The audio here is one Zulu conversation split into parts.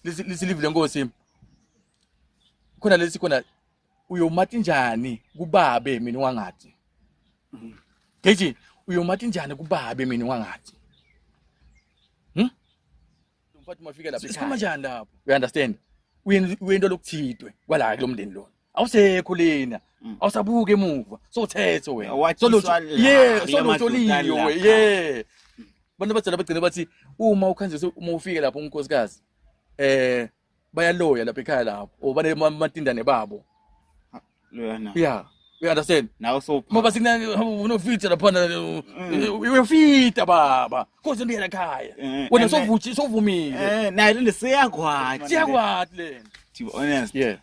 lisilivile nkosi khona lesi khona uyomati njani kubabe mina wangathi ngithi uyomati njani kubabe mina wangathi hm mfathi mafika lapha sikhama njani lapho you understand uyento lokuthitwe kwala kulomndeni lona awusekho lena Mm. awusabuke emuva sothetho wena Watshiswa Solutho- la, yeah kula solutho madoda liyo la. we yeah abantu abadala bagcina bathi uma ukhanjiswe uma ufike lapho unkosikazi eh bayaloya lapha ekhaya lapho or banematindane babo Loyana. yeah you understand Nawe sopha. ngoba sikuna unofita laphana Mm. uyofita baba koze ndiyela ekhaya Eh, wena and- sovuthi sovumile Eh, nayo le seyakwathi. siyakwati lena To be honest. yeah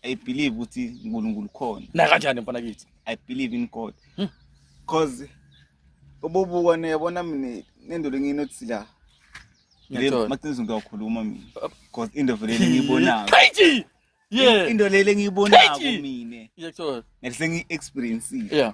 I believe ukuthi uNkulunkulu khona. Na kanjani mfana kithi? I believe in God. Hmm. Cause ubobuka niyabona mina nendolo nginothi la. Ngiyathola. Mathins ngiyakhuluma mina. Uh, Cause into vele ngiyibonako. Crazy. Yeah. Into lele ngiyibonako mina. Ngiyathola. Ngise ngi experience. Yeah.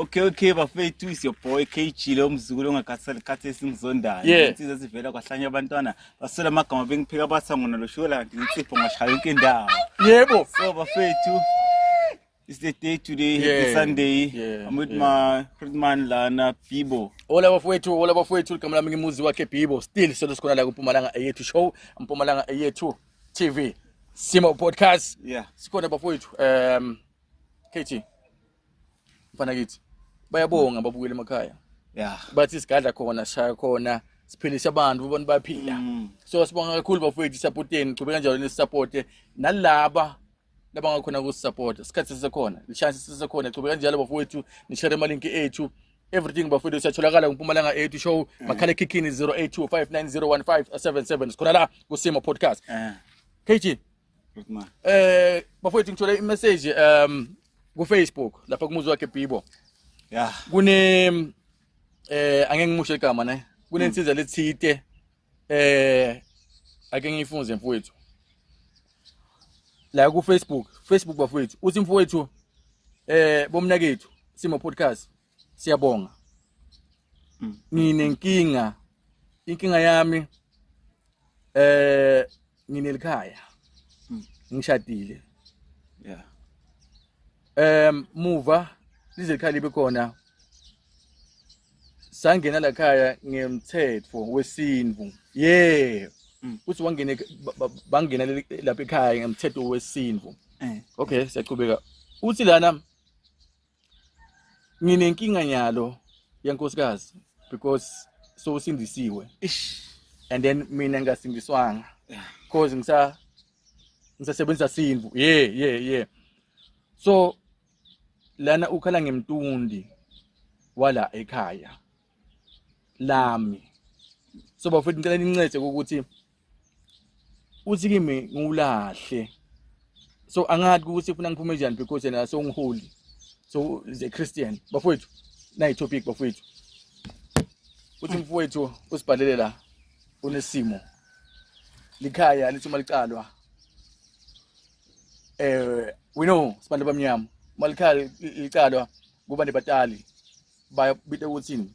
Okay okay bafethu is your boy KG lo mzukulu ongakhathali khathi esimzondayo yeah. insizwa ezivela kwahlanya abantwana baswela amagama bengiphika batha ngona lo shola kanti insipho ngashaya yonke indawo yebo so bafethu it's the day today yeah. happy sunday yeah. i'm with yeah. my friend man lana bibo ola bafethu ola bafethu igama lami ngimuzi wakhe bibo still solo sikhona la kumpumalanga eyethu show mpumalanga eyethu tv simo podcast yeah sikhona bafethu um KG mfana kithi bayabonga babukele emakhaya yeah bathi sigadla khona shaya khona siphilisa abantu ubona baphila mm. so sibonga kakhulu bafowethu isupporteni chube kanjalo nesupporte nalaba labangakhona kusupporta isikhathi sisekhona lishance sisekhona chube kanjalo bafowethu nishare amalinki ethu everything bafowethu siyatholakala kumpumalanga ethu show mm. makhala ekhikhini 0825901577 sikhona la kusimo podcast eh. KG Eh bafowethu ngithole imessage um ku Facebook lapha kumuzi wakhe Bibo. Yeah. Kune eh angeke ngimushe igama ne. Kunensiza hmm. lethite eh ake ngiyifunze mfowethu. La ku Facebook, Facebook bafowethu. Uthi mfowethu eh bomnakethu simo podcast Siyabonga. Mm. Nginenkinga. Inkinga yami eh nginelikhaya. Mm. Ngishadile. Yeah. Em muva lizelikhaya libe khona sangena la khaya ngemthetho wesintu yeah mm. uthi wangene bangena lapha ekhaya ngemthetho wesintu eh. okay siyaqhubeka uthi lana nginenkinga nyalo yankosikazi because so usindisiwe and then mina ngasindiswanga cause ngisa ngisasebenzisa sinvu ye ye ye so lana ukhala ngemtundi wala ekhaya lami so bafethu ngicela nincede ukuthi uthi kimi ngiwulahle so angathi ukuthi ufuna ngiphume njani because yena so ngiholy so is a christian bafowethu nayi topic bafowethu uthi mfowethu usibhalele la unesimo likhaya lithi uma licalwa eh we know sibantu abamnyama uma likhaya licalwa kuba nebatali bayabita ukuthini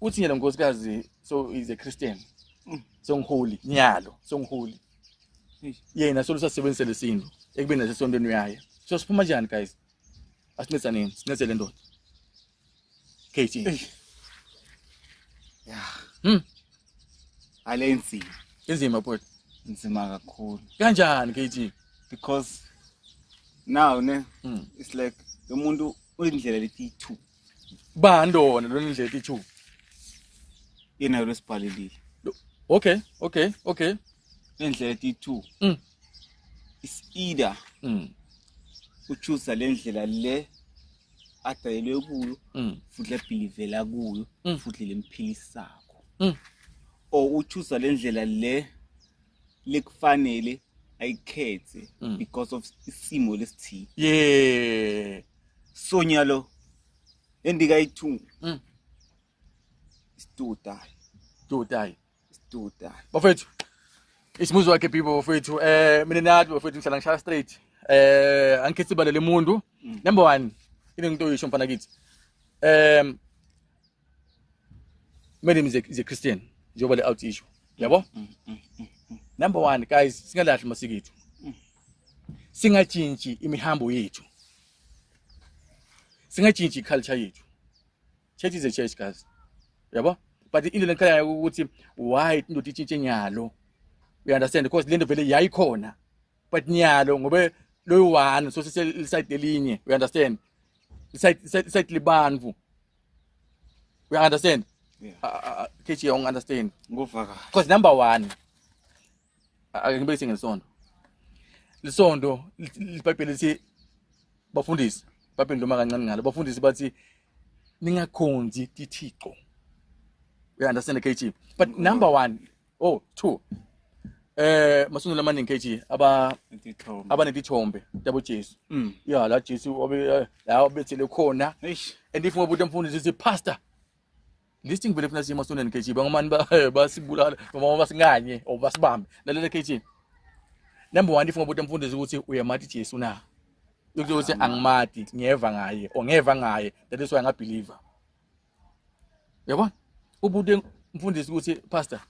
uthi yena nkosikazi so is a christian mm. so ngiholi nyalo so ngiholi yena so lusasebenzisa lesinto ekubeni nasesontweni uyaye so siphuma njani guys asincisa nini sincise le ndoda kt ya hmm ale nzima inzima bhuti nzima kakhulu kanjani kt because now ne mm. it's like lo muntu uyindlela leti two Bani wona lona indlela ithu. Yena yona sibhalelile. Okay, okay, okay. Indlela ithu. Mm. Is either. Mm. Uchuza le ndlela le adayelwe kuyo mm. futhi lebhilivela kuyo mm. futhi lemphilisako. Mm. O uchuza le ndlela le lekufanele ayikhethe mm. because of isimo lesithile yeah Sonya lo endikayithunga. Mm. Studayi. Studayi. Studayi. Bafethu. Isimuzi wakhe people bafethu. Eh mina nathi bafethu ngihlala ngishaya straight. Eh angikhethi balele umuntu. Mm. Number 1. Into ngitoyisho mfana kithi. Um Madam is a, is a Christian njengoba le out issue. Yabo? Mm, mm, mm, mm. Number 1 guys singalahli masiko ethu. Mm. Singatshintshi imihambo yethu. Singatshintshi culture yethu. Church is a church guys. Yabo? But into lengikhalayo ukuthi why indoda itshintshe nyalo. You understand because lento vele yayikhona. But nyalo ngobe loyo one so sisayide elinye. You understand? Isayide isayide libantu. We understand? Yeah. Uh, uh, uh KG, I understand. Ngokuvakala. Because number one, angibekise ngesondo. Lisondo libhayibheli lithi bafundisi, bhayibheli noma kancane ngalo. Bafundisi bathi ningakhonzi tithixo. We understand KG. But number one, oh two eh masungula amaningi KG aba abanetithombe yabo Jesu mm. ya la Jesu wabe eh, la obethele khona and if ngobuthi mfundi sithi pastor list ngivele funa siye masondeni KG bangomani ba eh, basibulala noma basinganye or basibambe lalela KG number 1 if ngobuthi mfundisi ukuthi uyamati Jesu na ukuthi angimati ngiyeva ngaye or ngiyeva ngaye that is why ngabeliever yabona ubude mfundisi ukuthi pastor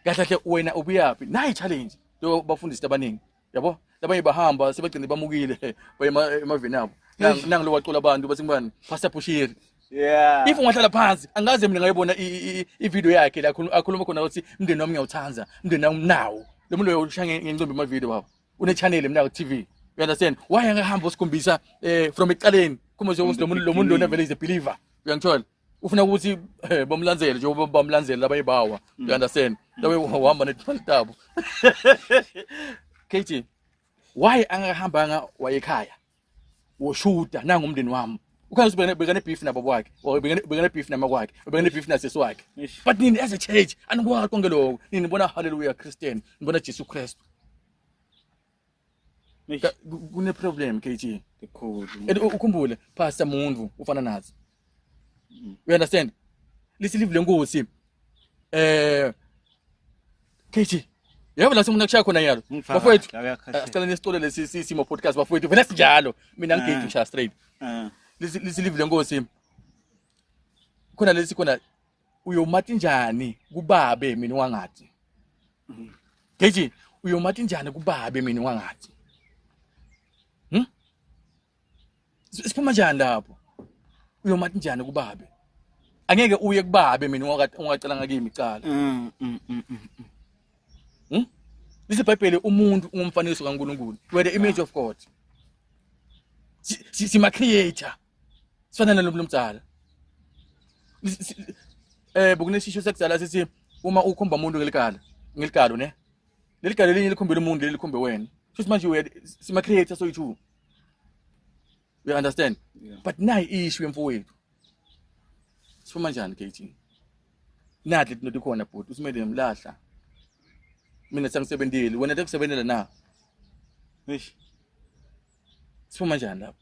kahle kahle wena ubuyaphi nayi challenge njengoba bafundisi abaningi yabo labanye bahamba sebagcine bamukile baye emaveni abo nangu lokwacula abantu bathi ngubani pastor bushiri Yeah. If ungahlala phansi angaze mina ngayibona i-video yakhe la akhuluma khona ukuthi umndeni wami ngiyawuthanda umndeni wami nawo lo muntu uyoshaya ngencimbi ama-video baba une channel mina ku TV you understand why angahamba usikhombisa eh from eqaleni kuma nje ukuthi lomuntu lomuntu lona vele is a believer uyangithola ufuna ukuthi eh, bamlandzele nje bamlandzele laba ibawa mm. you understand laba uhamba netmali tabo KT why angahambanga wayekhaya woshuda nangu umndeni wami ukhazi bekane beef nabo kwakhe or bekane beef nama kwakhe bekane beef nasisi wakhe but nini as a church anikwakho konke lokho nini bona hallelujah christian nibona jesu kristu kune problem KG ikhulu and ukhumbule pastor muntu ufana nazo You understand? Listen live lenkosi. Eh KG Yebo la simuna kushaya khona yalo. Bafowethu. Eh, sicela nesitole lesi simo podcast bafowethu. Vele sinjalo. Mina ngigate eh. ngishaya straight. Eh. Lisi lisi live lenkosi. Khona lesi khona uyomathi njani kubabe mina wangathi. Mm-hmm. KG uyomathi njani kubabe mina wangathi. siphuma njani lapho uyoma njani kubabe angeke uye kubabe mina ungacela ngakimi icala mm, mm, mm, hmm? lisebhayibheli umuntu ungumfanekiso kaNkulunkulu were the image of God sima creator sifanele lo mdala eh bokunesisho sekudala sithi uma ukhomba umuntu ngelikala ngelikalo ne lelikalo elinye likhombela umuntu lelikhombe wena shuthi manje sima creator soyi-two You understand? Yeah. But nayi issue yemfowethu. Sifuma njani KT? Nadle into khona bhuti, usimele ngimlahla. Mina sengisebenzile, wena tekusebenzela na? Eish. Sifuma njani lapho?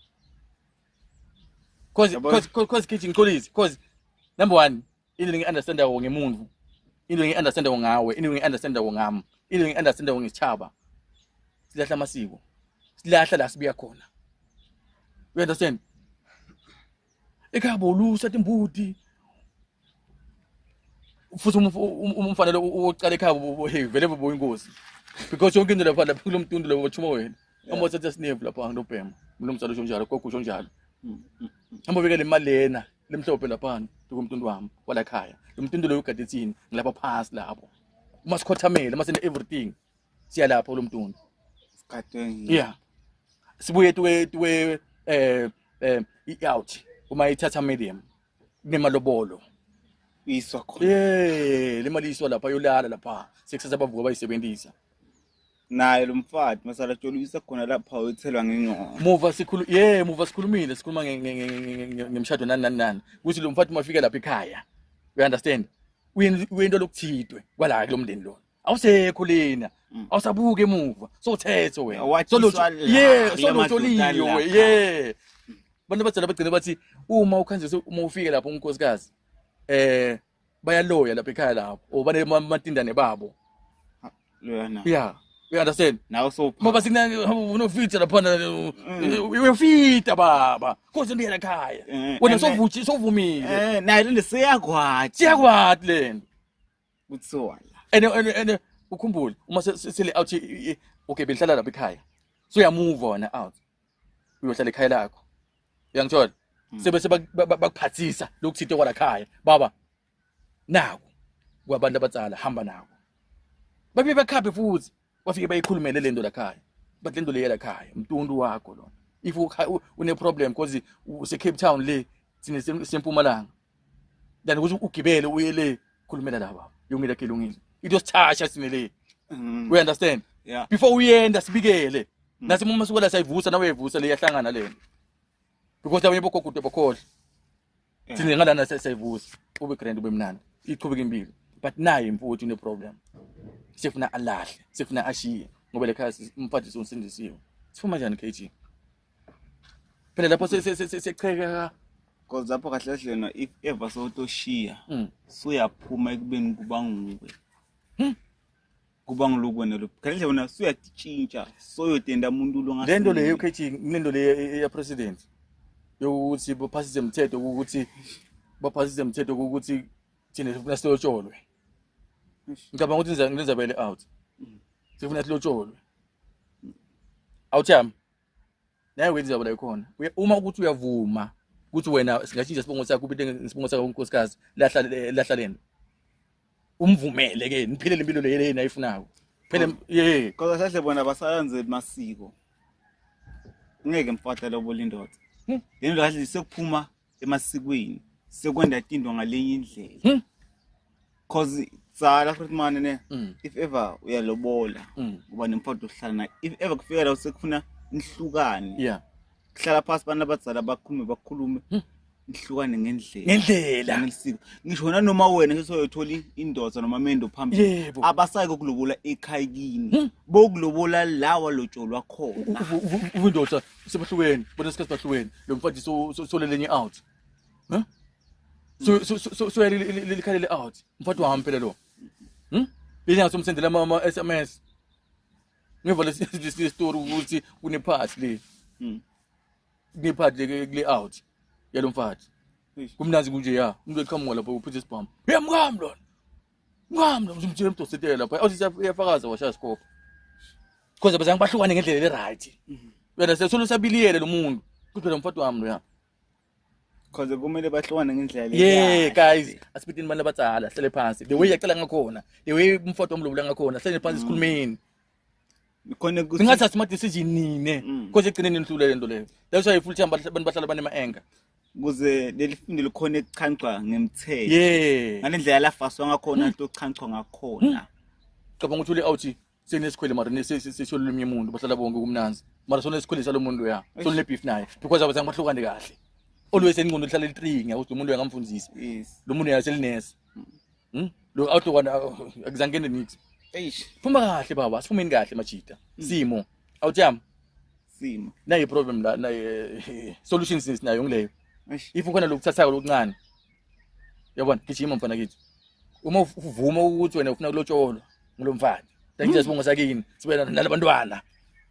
Cause cause cause KT ngixolise, cause number 1 into ngi understand ko ngemuntu into ngi understand ko ngawe into ngi understand ko ngami into ngi understand ko ngisithaba silahla amasiko silahla la sibuya khona you understand ekhabo lusa timbuti futhi umfanele uqala ekhabo hey vele bobo inkosi because yonke into lapha lapha kulomtundu lapha bachuma wena uma uthatha sinevu lapha ngilobhema mlomsalo usho njalo gogo usho njalo hamba ubekele imali lena limhlophe laphana likumtuntu wami walakhaya lomtuntu loyo ugade thini ngilapha phasi lapho uma sikhothamele uma sine everything siya lapho lo mtuntu sigadwe yeah sibuye tuwe tuwe eh eh i-out uma ithatha medium kunemalobolo iswa khona eh le mali iswa lapha yolala lapha sekusaza bavuka bayisebenzisa naye lo mfati masalatsholuisa khona lapha wethelwa ngengqondo muva sikhulu ye muva sikhulumile sikhuluma ngemshado nani nani nani ukuthi lo mfati mafike lapha ekhaya you understand uyinto lokuthidwe kwala kulo mndeni lona awusekho lena mm. awusabuke emuva sowuthetho wena ye solotsholiyo we ye abantu abadala bagcine bathi uma ukhanjise uma ufike lapho umkhosikazi eh bayaloya lapha ekhaya lapho or banematindane babo loyana yeah you understand nawe so ngoba sina unofita lapha mm. uyofita baba konje ndiyela ekhaya eh, wena sovuthi sovumile eh naye le siyakwathi siyakwathi lena kuthiwa and and ukhumbule uma sele out okay bengihlala lapha ekhaya so uyamuva wena out uyohlala ekhaya lakho uyangithola mm. sebese bakuphathisa lokuthinte kwalakhaya baba naku kwabantu abatsala hamba nawo babe bakhaphe futhi bafike bayikhulumele lento lakhaya but lento leya lakhaya mtuntu wakho lona if une problem because use Cape Town le sine sempumalanga than ukuthi ugibele uye le khulumela laba yongile ke lungile into sithasha sine le mm. we understand yeah. before uyenda sibikele mm. nasi uma sukela sayivusa nawe uyivusa le yahlangana lena because abanye bogogude bokhohle yeah. thina ngalana sayivusa ube grand ube mnandi iqhubeka impilo but naye imfuthi une problem sifuna alahle sifuna ashiye ngoba le khaya umfadisi unsindisiwe sifuma njani KG phela lapho secheka because lapho kahle kahle lena if ever sewutoshiya hmm. suyaphuma ekubeni kuba nguwe hmm. kuba ngiloku wena lo kanti wena suyatitshintsha soyotenda umuntu lo ngase lento leyo ukhethi kunento leyo e, e, ya president yokuthi bophasise umthetho ukuthi baphasise umthetho ukuthi thina sifuna silotsholwe ngicabanga ukuthi ngizabele out sifuna silotsholwe awuthi yami naye wenza ijabula ikhona uma ukuthi uyavuma ukuthi wena singashintsha isibongo sakho ubile ngesibongo sakho unkosikazi lahla lahla lento umvumele ke niphilele impilo le yena ayifunayo phele ye kodwa sahle bona basayenze masiko ngeke mfahle lobo lindoda lento kahle sekuphuma emasikweni sekwenda tindwa ngalenye indlela hmm? cause tsala futhi mane ne mm. if ever uyalobola mm. uba nemfowethu ohlala naye if ever kufika la sekufuna nihlukane yeah kuhlala phansi abantu abadzala bakhulume bakhulume hmm. nihlukane ngendlela ngendlela ngelisiko ngisho wena noma wena sesoyothola indoda noma mendo phambili abasayi kokulobola ekhaya kini hmm. bokulobola lawa lotsholwa khona uvindoda sebahlukene bona sikhathi bahlukene lo mfati solelenye out huh? soya likhalele out mfati wami phela lo hmm? lenyanga somsendela ama-s m s ngeva lesitori ukuthi kunephathi le hmm. kunephathi le kule out yalo mfati kumnanzi kunje ya umuntu eqhamuka lapho uphithe isibhamu yamkami lona Ngami ngimtshela umdosetela lapha othi uyafakaza washa isikopha. Because abazange bahlukane ngendlela le right. Wena sesulu sabiliyele lomuntu. Kuphela umfati wami loya. Cause kumele bahlukane ngendlela Yeah guys, asibidini abantu abadala hlele phansi. The way yacela ngakhona, the way umfati wami lobula ngakhona, hlele phansi mm. sikhulumeni. khona ningathathi ama decision nine because mm. ekugcineni nihlule lento leyo that's why full time abantu bahlala banema anger kuze leli fundo likhona ekuchancwa ngemthetho yeah ngalendlela lafaswa ngakhona into hmm. ochancwa ngakhona hmm. cabanga ukuthi ule out senesikhwele mara sesho lolunye umuntu bahlala bonke kumnanzi mara sona esikhwele salo muntu ya sona le beef naye because abazange bahlukane kahle always enqondo lihlala litringa ukuthi umuntu uyangamfundisi lo muntu yaselinesa Hmm? Lo outlook wona akuzangene nix. Eish. Phuma kahle baba, siphumeni kahle majita. Hmm. Simo. Awutyama. Simo. Nayi problem la, nayi solution since nayo ngileyo. Eish. If ukhona lokuthathayo lokuncane. Yabona, gijima mfana kithi. Uma uvuma ukuthi wena ufuna kulotsholwa ngilomfana. Thank you sibongo sakini. Sibe nalabantwana.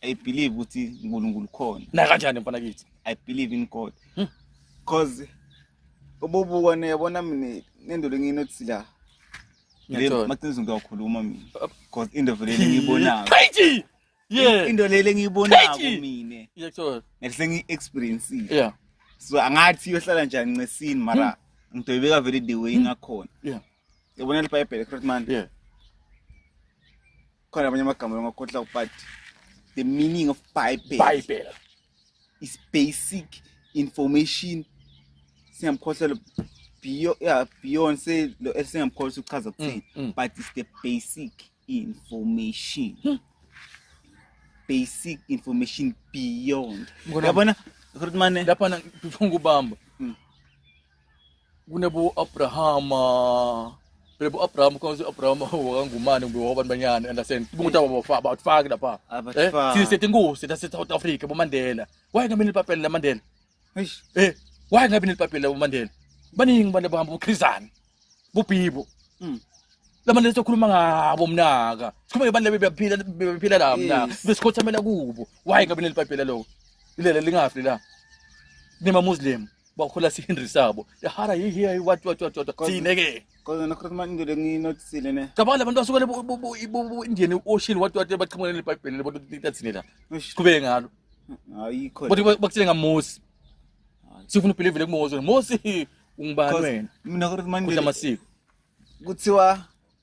I believe ukuthi uNkulunkulu khona. Na kanjani mfana kithi? I believe in God. Hmm. Cause ubobuka ne yabona mina nendoda nginothi la. Ngiyathola. Mathins ngiyakhuluma mina. Cause into vele ngiyibonako. Crazy. Yeah. Into lele engiyibonako mina. Ngiyathola. Ngase ngi experience. Yeah. So angathi yohlala njani ncesini mara hmm. ngidoyibeka vele the way ngakhona. Yeah. Yabona libhayibheli correct man. Yeah. Khona abanye amagama ongakhohla but the meaning of bible Bible. is basic information singamkhohlelo beyond yeah, beyond say lo esingamkhohlisa ukuchaza kuthini Mm, mm. but it's the basic information Hmm. basic information beyond Mkhona- yabona Rutmane Lapha na- ngifuna ukubamba. Mm. kunebo Abrahama Lebo Abraham kwanzi Abraham wakangumani kumbe wabantu banyana understand umuntu ababafa abathfaki lapha eh sisi sethi inkosi la South Africa bo Mandela why ngabe nilipapela la Mandela eish eh why ngabe nilipapela bo Mandela baningi abantu abahamba ukhrizana bubibo mm la Mandela sokhuluma ngabo mnaka sikhuluma ngebantu lebe bephila bephila la mnaka besikhothamela kubo why ngabe nilipapela lokho ilela lingafi la nima muslim bakhola sihinri sabo hara hi hi hi what what what what thine ke kodwa nakhona manje into lenginotisile ne cabanga abantu basuke lebo Indian Ocean what what baqhamuka nebhayibheli lebo litathini la siqhubeke ngalo ayikho kodwa bakuthile ngaMose sifuna ubelieve kuMose Mose ungibani wena mina kodwa manje amasiko kuthiwa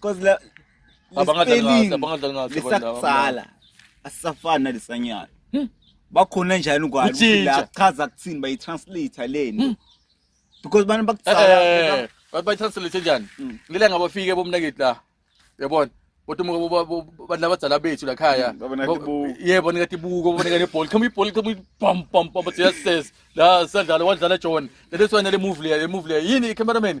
Cause la Abangadlali ngaso, spelling abangadlali ngaso abantu laba. lesakuqala asisafani nalesanyana. Bakhona njani kwani ukuthi Kutshintsha. la chaza kuthini bayi translate leni. Because bana Eh, bakuqala bathi bayitranslate njani Mm. ngile ngabafike bomnaketi la yabona kodwa uma bo- bo- bo- bantu labadzala bethu la khaya Mm, babona Bo- tibuko. yebo nikati buko babona kane ball khama ibhola khama pam pam pam bathi yes yes la sadlala wadlala John leleswana le move le move le yini i cameraman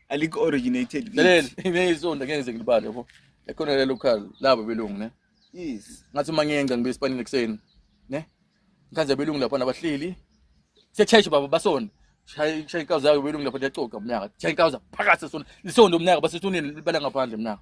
alikho originated lalela imeyisonto ngeke ngize ngilibale yabo ekhona lelo khali labo belungu ne yes ngathi uma ngiyenza ngibe esipanini ekuseni ne ngikhanze belungu lapha nabahleli siyacheshe baba basona shaya inkawu zayo belungu lapha liyacoca mnyaka shaya inkawu zaphakathi sona lisonto mnyaka basesuneni libala ngaphandle mnyaka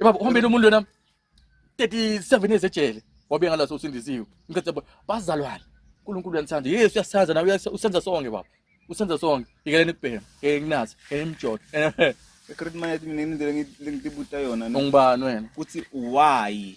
Eh, baba uhambile umuntu lona 37 years ejele wabe ngalaso usindisiwe ngicela bo- bazalwane uNkulunkulu uyanithanda yesu uyasithanda nawe uyasa- usenza sonke baba usenza sonke ikeleni kubhema ngeke nginazi ngeke ngimjode Ecredit manje mina indlela engi- lengitibuta yona no, ungubani wena kuthi why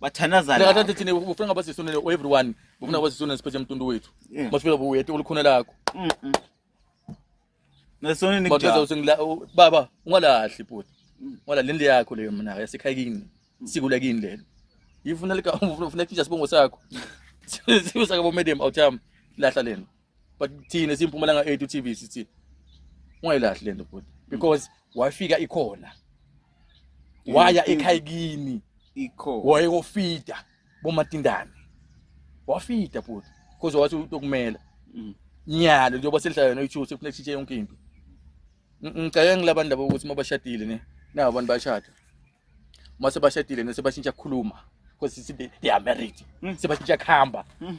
bathandaza la kanti thina ufuna ngaba sisonele everyone ufuna ngaba sisonele siphethe emtundu wethu masifika buyete ulikhona lakho nesonini kujaza usengila baba ungalahli bhuti mm. wala lendle yakho leyo mina yasikhaya kini mm. sikula kini lelo yifuna lika ufuna kutsha sibongo sakho sibusa kabo madam awuthami lahla lena but thina simpumalanga 8 uTV sithi ungayilahli lento bhuti because wafika ikhona waya ekhaya kimi ikho wayekofida bomatindane wafida bhuti because wathi utokumela mm. nyalo njengoba selihlala yona i-two sekufuneka sitshe yonke into ngicela ngilabantu labo ukuthi uma bashadile ne nabo abantu bashada uma sebashadile ne sebashintsha kukhuluma because they are married mm. sebashintsha kuhamba mm.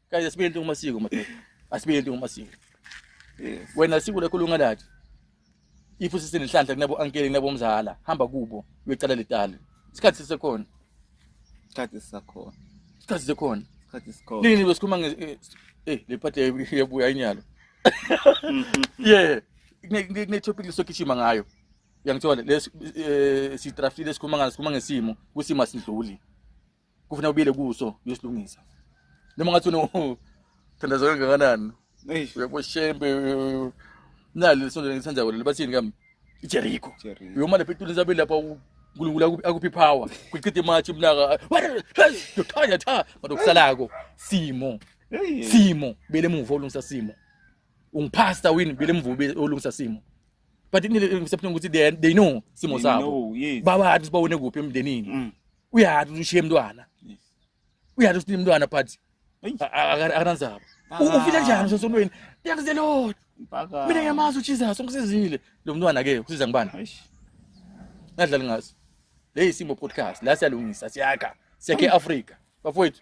Guys asibe into ngomasiko madoda. Asibe into ngomasiko. Yes. Wena sikulo ekhulunga lathi. If usisenenhlanhla kunabo ankele kunabo mzala hamba kubo uyocela letali. Isikhathi sisekhona. Isikhathi sisakhona. Isikhathi sisekhona. Isikhathi sikhona. Nini besikhuluma nge eh, eh le part yabuya inyalo. Yeah. Kune topic lesokishima ngayo. Uyangithola les eh, sidraftile sikhuluma ngaso sikhuluma ngesimo kusimo asidluli. kufuna ubile kuso uyosilungisa noma ngathi unothandazo kangakanani eish uyaboshembe nalo lesonto ngisandako lelo bathini kami ijeriko Jericho. uyoma lapha etulini sabeli lapha u- unkulunkulu aku- akuphi power kuchitha imatshi umnaka yothanya tha manje okusalako simo Hey. simo bele emuva olungisa simo ungiphasta wini bele emuva ube- olungisa simo but ngisephuna ukuthi they they know simo They sabo know, yes. babathi sibawone kuphi emndenini Mm. uyati kuti ushiye mntwana uyati kuti mntwana but akananzaba ufile njani sosonweni thanks the lord mina ngiyamazi ujesus ungisizile lo mntwana ke usiza ngibani nadlali ngaso le yisimo podcast la siyalungisa siyakha siyakhe i-afrika bafowethu